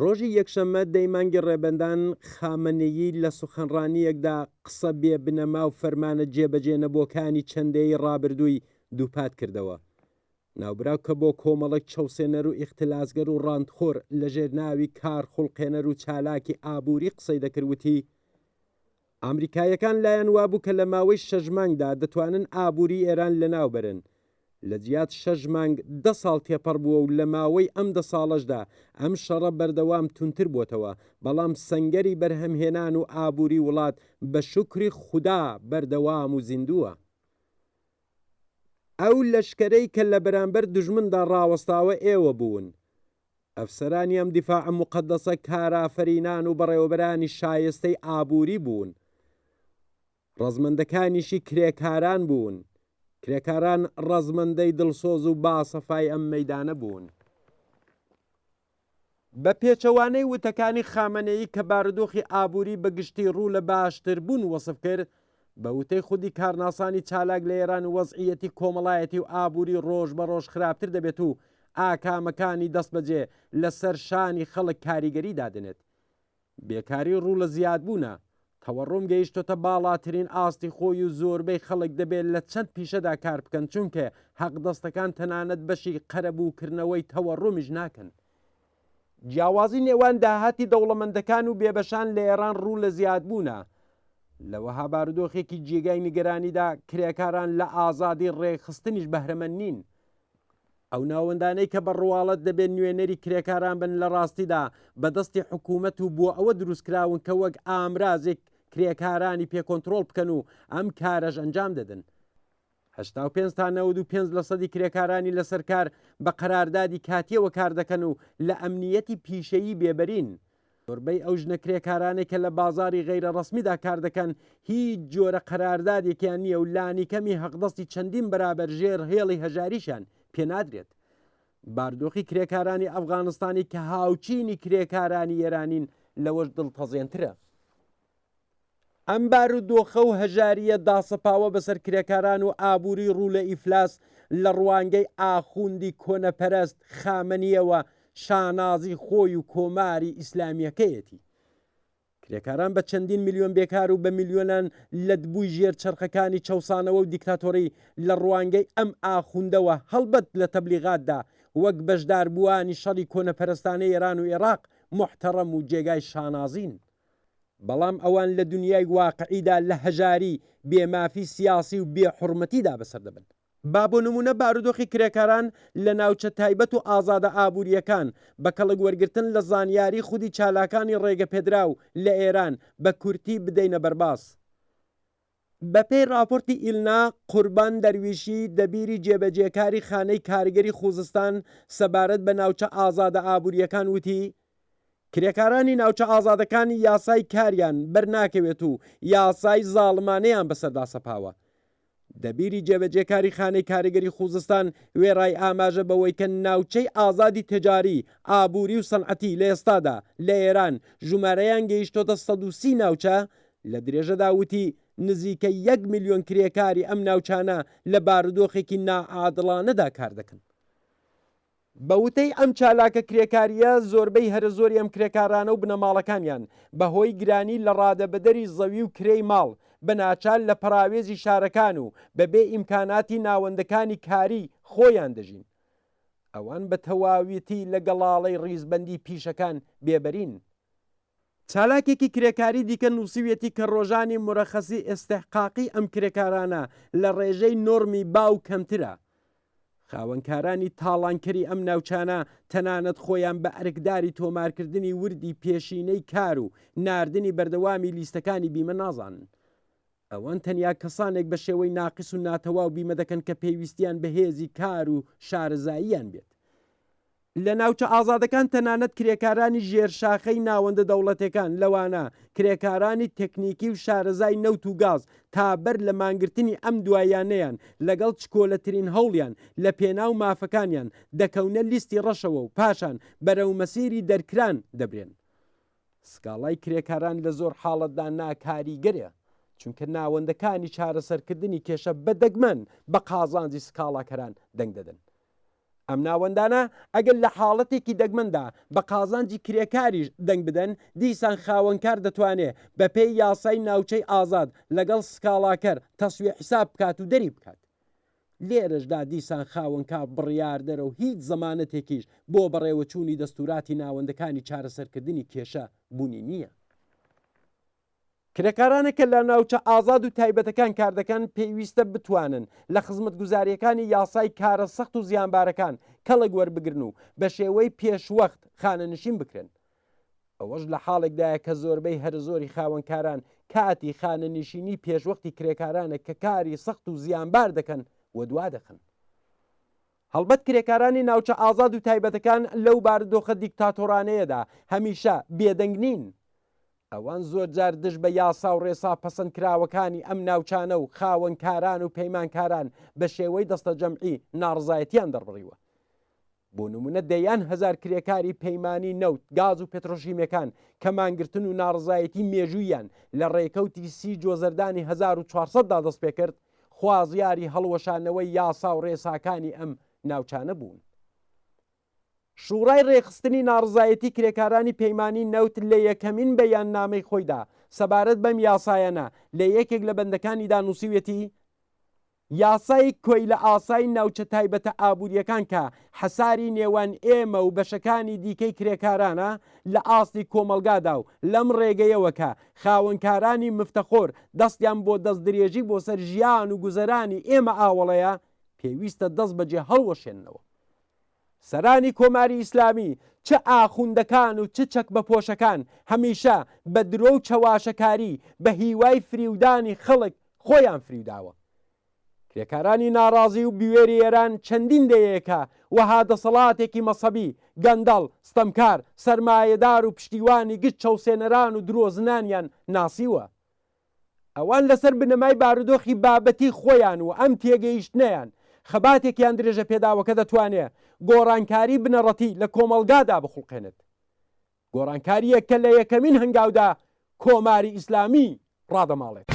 ڕۆژی یەکشەممە دەی مانگی ڕێبەندان، خامەنەیی لە سوخەنڕانییەکدا قسە بێ بنەما و فەرمانە جێبەجێ نەبووەکانی چەند دەیەی ڕابردووی دووپات کردەوە. ناوبراو کە بۆ کۆمەڵێک چەوسێنەر و ئیختلاسگەر و ڕانتخۆر لە ژێر ناوی کارخوڵقێنەر و چالاکی ئابووری قسەی دەکرد وتی، ئامریکاییەکان لایان وابوو کە لە ماوەی شەش مانگدا دەتوانن ئابووری ئێران لەناوبەرن، لەجیات شەش مانگ دە ساڵ تێپەڕبووە و لە ماوەی ئەم دە ساڵەشدا ئەم شەڕە بەردەوام توندتر بۆتەوە، بەڵام سەنگەری بەرهەمهێنان و ئابووری وڵات بە شوکری خودا بەردەوام و زیندووە. ئەو لەشکەرەی کە لە بەرامبەر دوژمندا ڕاوەستاوە ئێوە بوون، ئەفسەرانی ئەم دیفاعە موقەدەسە کارئافەرینان و بەڕێوەبەرانی شایستەی ئابووری بوون، ڕەزمەندەکانیشی کرێکاران بوون، کرێکاران ڕەزمەندەی دڵسۆز و باسەفای ئەم مەیدانە بوون. بە پێچەوانەی وتەکانی خامەنەیی کە بارودۆخی ئابووری بە گشتی ڕوو لە باشتربوون وەسف کرد، بە وتەی خودی کارناسانی چالاک لە ئێران وەزعییەتی کۆمەڵایەتی و ئابووری ڕۆژ بە ڕۆژ خراپتر دەبێت و ئاکامەکانی دەستبەجێ لە سەر شانی خەڵک کاریگەری دادەنێت. بێکاری ڕوو لە زیادبوونە، تەوەڕوم گەیشتۆتە باڵاترین ئاستی خۆی و زۆربەی خەڵک دەبێ لە چەند پیشەدا کار بکەن چونکێ حەقدەستەکان تەنانەت بەشی قەرەبوو کردنەوەی تەوەڕومیش ناکەن. جیاوازی نێوان داهاتی دەوڵەمەندەکان و بێبەشان لە ئێران ڕوو لە زیادبوونە. لە وەها بارودۆخێکی جێگای نیگەرانیدا کرێکاران لە ئازادی ڕێکخستنیش بەهرەمەند نین. ئەو ناوەندانەی کە بە ڕواڵەت دەبێت نوێنەری کرێکاران بن لە ڕاستیدا بەدەستی حکوومەت و بۆ ئەوە دروستکراون کە وەک ئامرازێک کرێکارانی پێکۆنتترۆل بکەن و ئەم کارەش ئەنجام دەدن. هەشتا و پێنج تا نەوەد و پێنج لەسەدی کرێکارانی لەسەر کار بە قەراردادی کاتیەوە کار دەکەن و لە ئەمنیەتی پیشەیی بێبەرین. زۆربەی ئەو ژنە کرێکارانێک کە لە بازاری غەیرە ڕەسمیدا کار دەکەن هیچ جۆرە قەراردادێکیان نییە و لانیکەمی هەقدەستی چەندین بەرابەر ژێر هێڵی هەژاریشان پێنادرێت. باردۆخی کرێکارانی ئەفغانستانی کە هاوچینی کرێکارانی ئێرانین لەوەش دڵتەزێنترە. ئەم بارودۆخە و هەژارییە داسەپاوە بەسەر کرێکاران و ئابووری ڕوو لە ئیفلاس لە ڕوانگەی ئاخوندی کۆنەپەرەست خامەنییەوە شانازی خۆی و کۆماری ئیسلامییەکەیەتی. کرێکاران بە چەندین ملیۆن بێکار و بە ملیۆنان لەتبووی ژێر چەرخەکانی چەوسانەوە و دیکتاتۆری لە ڕوانگەی ئەم ئاخوندەوە هەڵبەت لە تەبلیغاتدا وەک بەشداربووانی شەڕی کۆنەپەرستانەی ئێران و ئێراق موحتەڕەم و جێگای شانازین. بەڵام ئەوان لە دونیای واقعیدا لە هەژاری، بێ مافی سیاسی و بێ حورمەتیدا بەسەر دەبەن. با بۆ نموونە بارودۆخی کرێکاران لە ناوچە تایبەت و ئازادە ئابوورییەکان، بە کەڵک وەرگرتن لە زانیاری خودی چالاکانی ڕێگەپێدراو لە ئێران، بە کورتی بدەینە بەرباس. بەپێی ڕاپۆرتی ئیلنا، قوربان دەرویشی، دەبیری جێبەجێکاری خانەی کارگەری خووزستان سەبارەت بە ناوچە ئازادە ئابوورییەکان وتی، کرێکارانی ناوچە ئازادەکان یاسای کاریان بەرناکەوێت و یاسای زاڵمانەیان بەسەردا سەپاوە. دەبیری جێبەجێکاری خانەی کارگەری خووزستان وێڕای ئاماژە بەوەی کە ناوچەی ئازادی تجاری، ئابووری و سەنعەتی لە ئێستادا لە ئێران ژومارەیان گەیشتۆتە سەد و سی ناوچە، لە درێژەدا وتی، نزیکەی یەک ملیۆن کرێکاری ئەم ناوچانە لە بارودۆخێکی ناعادڵانەدا کار دەکەن. بە وتەی ئەم چالاکە کرێکارییە، زۆربەی هەرە زۆری ئەم کرێکارانە و بنەماڵەکانیان بە هۆی گرانی لە ڕادەبەدەری زەوی و کرێی ماڵ، بە ناچار لە پەراوێزی شارەکان و بە بێ ئیمکاناتی ناوەندەکانی کاری خۆیان دەژین. ئەوان بە تەواویتی لە گەڵاڵەی ڕیزبەندی پیشەکان بێبەرین. چالاکێکی کرێکاری دیکە نووسیویەتی کە ڕۆژانی مورەخەسی ئیستحقاقی ئەم کرێکارانە لە ڕێژەی نۆرمی باو کەمترە. خاوەنکارانی تاڵانکەری ئەم ناوچانە تەنانەت خۆیان بە ئەرکداری تۆمارکردنی وردی پێشینەی کار و ناردنی بەردەوامی لیستەکانی بیمە نازانن. ئەوان تەنیا کەسانێک بە شێوەی ناقس و ناتەواو بیمە دەکەن کە پێویستیان بە هێزی کار و شارەزاییان بێت. لە ناوچە ئازادەکان تەنانەت کرێکارانی ژێر شاخەی ناوەندە دەوڵەتێکان لەوانە کرێکارانی تەکنیکی و شارەزای نەوت و گاز تا بەر لە مانگرتنی ئەم دواییانەیان لەگەڵ چکۆلەترین هەوڵیان لە پێناو مافەکانیان دەکەونە لیستی ڕەشەوە و پاشان بەرەو مەسیری دەرکران دەبرێن. سکاڵای کرێکاران لە زۆر حاڵەتدا ناکاریگەرە، چونکە ناوەندەکانی چارەسەرکردنی کێشە بە دەگمەن بە قازانجی سکاڵاکەران دەنگ دەدەن. ئەم ناوەندانە ئەگەر لە حاڵەتێکی دەگمەندا بە قازانجی کرێکاریش دەنگ بدەن، دیسان خاوەنکار دەتوانێت بەپێی یاسای ناوچەی ئازاد لەگەڵ سکاڵاکەر تەسویە حیساب بکات و دەری بکات. لێرەشدا دیسان خاوەنکاف بڕیاردەرە و هیچ زەمانەتێکیش بۆ بەڕێوەچوونی دەستووراتی ناوەندەکانی چارەسەرکردنی کێشە بوونی نییە. کرێکارانە کە لە ناوچە ئازاد و تایبەتەکان کار دەکەن پێویستە بتوانن لە خزمەتگوزارییەکانی یاسای کارە سەخت و زیانبارەکان کەڵک وەربگرن و بە شێوەی پێشوەخت خانەنشین بکرێن. ئەوەش لە حاڵێکدایە کە زۆربەی هەرەزۆری خاوەنکاران کاتی خانەنشینی پێشوەختی کرێکارانە کە کاری سەخت و زیانبار دەکەن و دوا دەخەن. هەڵبەت کرێکارانی ناوچە ئازاد و تایبەتەکان لەو بارودۆخە دیکتاتۆرانەیەدا هەمیشە بێدەنگ نین. ئەوان زۆرجار دژ بە یاسا و ڕێسا پەسەندکراوەکانی ئەم ناوچانە و خاوەنکاران و پەیمانکاران بە شێوەی دەستەجەمعی ناڕەزایەتییان دەربڕیوە. بۆ نمونە دەیان هەزار کرێکاری پەیمانی نەوت، گاز و پێترۆشیمیەکان کە مانگرتن و ناڕەزایەتی مێژووییان لە ڕێکەوتی سی جۆزەردانی هەزار و چوار سەد دا دەستپێکرد، خوازیاری هەڵوەشانەوەی یاسا و ڕێساکانی ئەم ناوچانە بوون. شوڕای ڕێکخستنی ناڕەزایەتی کرێکارانی پەیمانی نەوت لە یەکەمین بەیاننامەی خۆیدا سەبارەت بەم یاسایانە لە یەکێک لە بەندەکانیدا نووسیویەتی، یاسای کۆیلەئاسای ناوچە تایبەتە ئابوورییەکان کە حەساری نێوان ئێمە و بەشەکانی دیکەی کرێکارانە لە ئاستی کۆمەڵگادا و لەم ڕێگەیەوە کە خاوەنکارانی مفتەخۆر دەستیان بۆ دەستدرێژی بۆ سەر ژیان و گوزەرانی ئێمە ئاوەڵەیە، پێویستە دەست بەجێ هەڵوەشێننەوە. سەرانی کۆماری ئیسلامی چ ئاخوندەکان و چ چەکبەپۆشەکان هەمیشە بە درۆ و چەواشەکاری بە هیوای فریودانی خەڵک خۆیان فریوداوە. کرێکارانی ناڕازی و بوێری ئێران چەندین دەیەیەکە وەها دەسەڵاتێکی مەسەبی، گەندەڵ، ستەمکار، سەرمایەدار و پشتیوانی گشت چەوسێنەران و درۆزنانیان ناسیوە. ئەوان لەسەر بنەمای بارودۆخی بابەتی خۆیان و ئەم تێگەیشتنەیان، خەباتێک یان درێژەپێداوە کە دەتوانێ گۆڕانکاری بنەڕەتی لە کۆمەڵگادا بخوڵقێنێت. گۆڕانکارییەک کە لە یەکەمین هەنگاودا کۆماری ئیسلامی ڕادەماڵێت.